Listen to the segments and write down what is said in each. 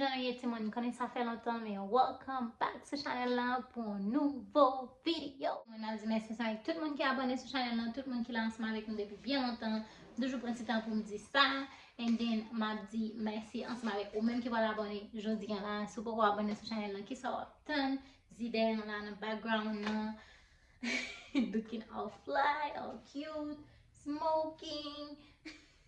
Anyen ti moun konnen sa fè lontan men welcome back sou chanel la pou yon nouvo video Mwen ap di mèsi ansanm avèk tout moun ki abone sou chanel la tout moun ki la ansanm avèk nou depi byen lontan M toujou pran ti tan pou m di sa And then m ap di mèsi ansanm avèk ou menm ki pral abone jodi an la Si w poko abone sou chanel la kisa w ap tann Zidè an la nan background nan Looking all fly, all cute Smoking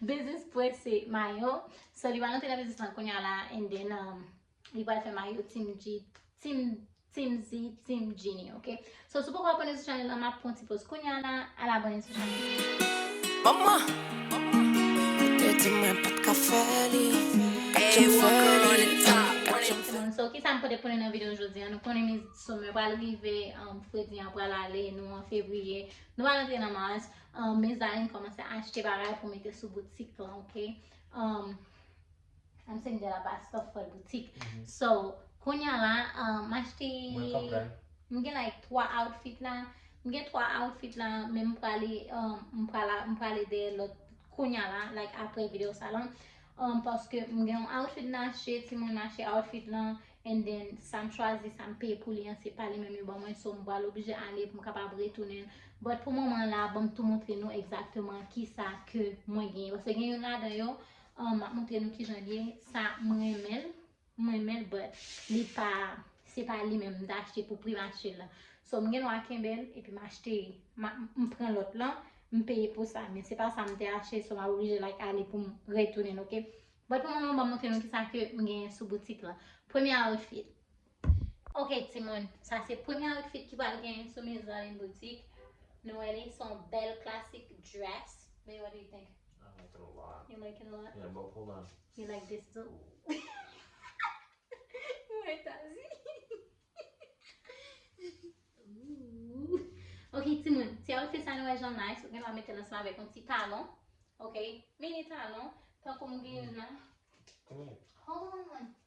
Biznis pwès se mayo So li pral antre nan biznis lan kounya la And then li pral fè mayo Team G Team G Team Genie ok So si w poko abone sou chanel lan map pran yon ti poz kounya la al abone sou chanel lan. Manman Ou te di mwen pat ka fè li Pat janm fè li Pat janm fè li So kisa m pote pou nou nan video jodi an Nou konnen miss summer pral rive Fredi an pral ale Nou an fevriye Nou pral antre nan mars Mezanmi kòmanse achte bagay pou mete sou boutik lan ok Humm Am sing de la pa stuff fol boutik. Mhm. So, konya la, um, achte... Mwen konpren. Mwen gen like 3 outfit la. Mwen gen 3 outfit la, men mwen prale, um, mwen prale, mwen prale de lot konya la, like apre video sa lan. Um, paske mwen gen yon outfit nan achte, ti mwen nan achte outfit la, and then sa m chwazi, sa m peye pou li an, se pa li men mwen ban mwen, so mwen prale oblije ale pou mwen kapab retounen. But pou moman la, bon m tou montre nou exactement ki sa ke mwen gen. Paske gen yon la dan yo, um, Ahh map montre nou kijan l ye sa m renmen l m renmen l but li pa se pa li menm m t achte pou pri mache l lan so m gen dwa kenbe l epi m achte m pran lòt lan m peye pou sa men se pa sa m te achte so m ap oblije like ale pou m retounen l ok but pou moman m ap montre nou kisa ke m genyen sou boutik lan premye outfit Ok timoun, sa se premye outfit ki pral genyen sou Miss Darline Boutique. Nou wè li, son bèl klasik dress. Bae, what do you think? I like it a lot. You like it a lot? Yeah, but hold on. You like this too? Mwen ta zi. Ooh. Ok timoun, ti outfit sa nou wè jan nice, ou gen dwa mete l ansanm avèk yon ti talon. Ok, mini talon. Tankou m gen youn la. Hold on.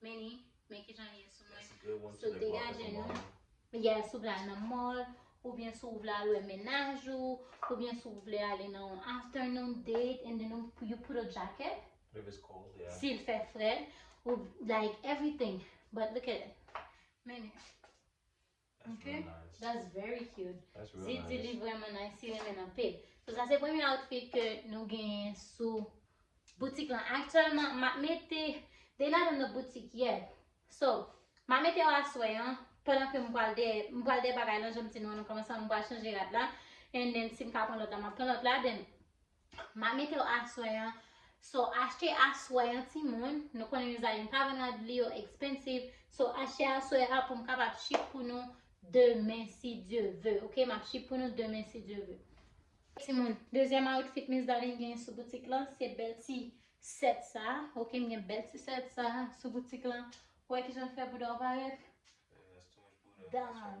Meni, men kijan li ye sou mwen. Yes, gray one So today dwa fè degaje kòman nou. ou. Yes, si w vle al nan mall, oubyen si w vle al wè mennaj ou, oubyen si w vle ale nan yon afternoon date and then ou- you put a jacket, If it's cold, yeah. si l fè frèt, ou like everything. But look at it. Meni. Ok that's very cute Didi li vreman nice si renmen nan pil So sa se premye outfit ke nou genyen sou boutik lan Aktyèlman m ap mete They not in the boutique yet So m ap mete yo aswè an Pandan ke m pral dèyè M pral dèyè bagay lan jan m di nou an nan kòmansman M pral chanje rad la And then si m ka pran lòt la m ap pran lòt la Then Ma mete w aswè an. So achte aswè an ti moun. Nou konnen nou zay nou pa vin rad li yo expensive. So achte aswè an pou m kapab ship pou nou demen si Dieu veut. Ok m ap ship pou nou demen si Dieu veut. Ti moun, dezyèm outfit Miss Darline genyen sou boutik lan se bèl ti set sa. Ok m gen bèl ti set sa sou boutik lan. Wè kijan l fè bouda w parèt. Damn.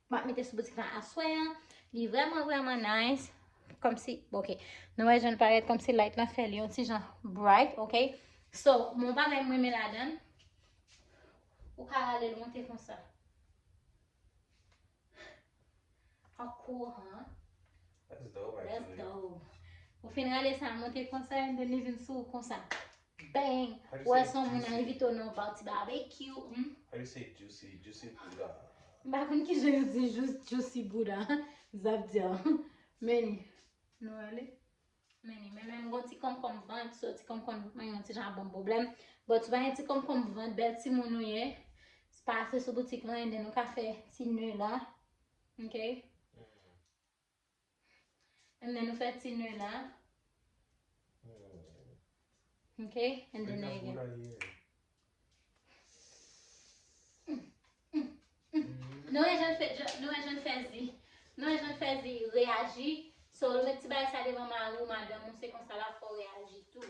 Map mete sou boutik lan aswè an. Li vreman vreman nice. Komsi, ok. Nou wè jan l parèt komsi light lan fè li yon ti jan bright, ok. So, mwen pa menm renmen ladan. Ou ka rale l monte konsa. How cool, huh? That's dope, actually. That's dope. Ou fin rale sa monte konsa, and then li vin sou ou konsa. Bang! Ou wè son moun a invite w nan yon party barbecue, humm. How you say juicy? Juicy bouda. M pa konn kijan yo di jous juicy bouda. Zap di an. Many. Nou wè li? Many. Men menm gon ti konkonm vant, so ti konkonm vant mwen yon ti jan banm pwoblèm. But si w pa gen ti konkonm vant, bèl ti moun ou ye, pase sou boutik lan and then ou ka fè ti neu la. Ok? And then ou fè ti nœud la. Ok, and then nœud again. Nou wè jan fè, nou wè jan fè zi. Nou wè jan fè zi reaji. So ou met ti bagay sa devan mari ou madanm ou se konsa la fè w reaji tou.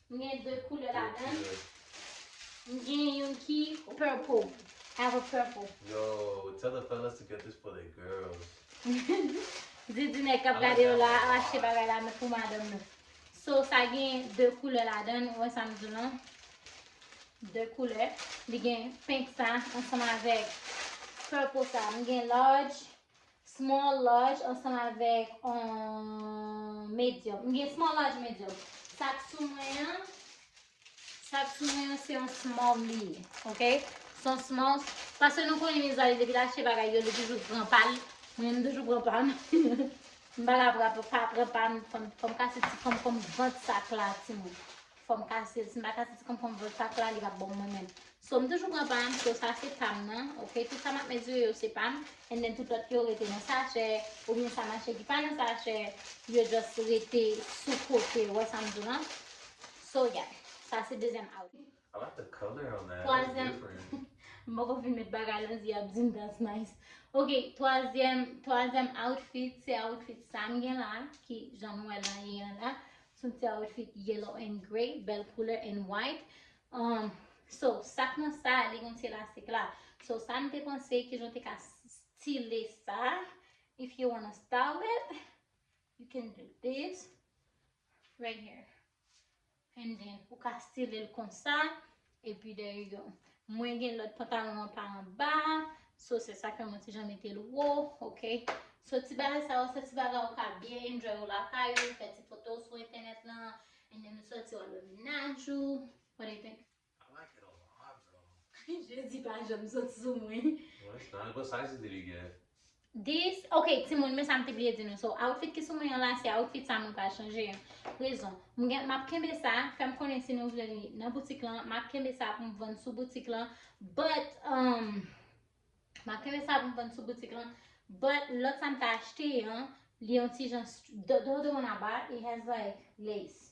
M gen 2 koulè ladan l. M gen youn ki purple. I have a purple. Yo, tell the fellas to get this for their girls. Didi nèg k ap gade yo la ap achte bagay la pou madanm nou. So, sa gen 2 koulè ladan l. Ou wè sa m di w lan? 2 koulè. Li gen pink sa ansanm avèk purple sa. M gen large Small large ansanm avèk on medium. M gen small large medium. Sa k sou mwen an, sa k sou mwen an se on small li ye. Ok? Se on small. Pase nou konnen mizali depi l achte bagay yo li toujou pran pa l. Mwen m toujou pran pa m. M pa ka pa pran pa m. Fò m kase ti fò m fò m vant sa k la ti moun. fòm kasil sim pa kase ti konpòm vòt pak la li pap bom mwen menm so m toujou pran pam so sa se pam nan ok tout sa map mezire yo se pam and then tout lòt yo rete nan sachè ou byen sa mache ki pa nan sachè yo just rete sou kote ou wè sam di w lan so yeah sa se dezyèm outfit I like the color on that it's different m poko fin met bagay lan zi ap dim that's nice ok twazyèm twazyèm outfit se outfit sam gen la ki jan nou wèl lan li an la Sou ti outfit yellow and grey, bèl koulè and white. Um, so, sak nan sa, li gen ti elastik la. So, sa m te panse, ki jan te ka style sa. If you wanna style it, you can do this. Right here. And then, ou ka style l konsa. E pi there you go. Mwen gen lòt pantalon an pa anba. So se sa fè mwen ti jan mete l wo. Ok. So ti bagay sa yo se ti bagay ou ka byen enjoy ou lakay ou, fè ti foto w sou entènèt lan. And then ou soti ou al wè mennaj ou. What do you think? I like it a lot bro. Jezi pa janm sot sou mwen. Mwen santi l gwo size li gen. This, ok timoun men sa m te bliye di nou So outfit ki sou mwen an la se outfit sa mwen pral chanje an Rezon, m gen, m ap kenbe sa, fè m konnen si nou vle li nan boutik lan M ap kenbe sa pou m vann sou boutik lan But, umm M ap kenbe sa pou m vann sou boutik lan But, lòt sa m te achte an Li yon ti jan, don't do on a bar, it has like lace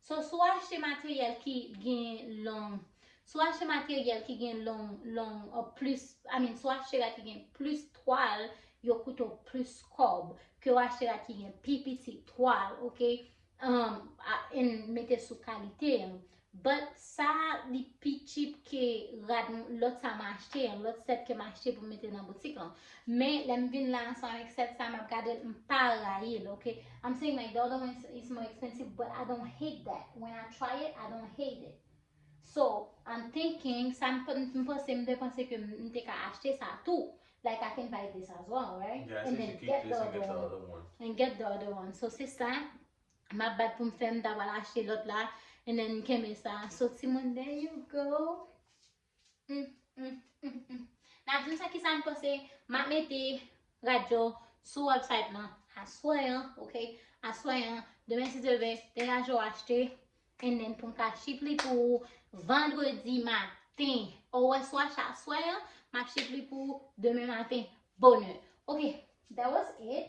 So sou achte materyèl ki gen long sou achte materyèl ki gen long long ou plis I mean sou achte rad ki gen plis twal yo koute w plis kòb ke w achte rad ki gen pi piti twal ok umm and mete sou kalite an but sa li pi cheap ke rad lòt sa m achte an lòt sèt ke m achte pou m mete nan boutik lan Men lèm vin la ansanm avèk sèt sa map gadel m pa rayil ok I'm saying like the other one is more expensive but I don't hate that when I try it I don't hate it so I'm thinking sa m panse m te panse ke m te ka achte sa tou like I can buy this as well right and then get the other one and get the other one so se sa map bat pou m fè m ta pral achte lòt la and then kenbe sa so timoun there you go. Humm humm humm Nap diw sa kisam panse Map mete radyo sou website lan aswè an ok aswè an demen si Dye vle degage ou achte and then poum ka ship li pou ou vendredi maten ou wè sou achte aswè an map ship li pou ou demen maten bonè ok that was it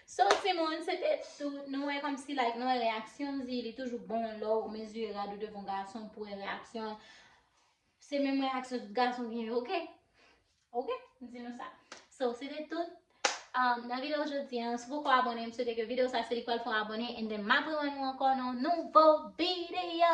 So timoun se te tout, nou wè kòmsi like nou wè reyaksyon l di li toujou bon lè w mezire rad ou devan gason pou wè reyaksyon l se menm reyaksyon tout gason gen yo ok ok m di nou sa so se te tout nan videyo jodi an si w poko abòne m swete ke videyo sa se li pral fè w abòne and then m ap rewè nou ankò nan yon nouvo videyo.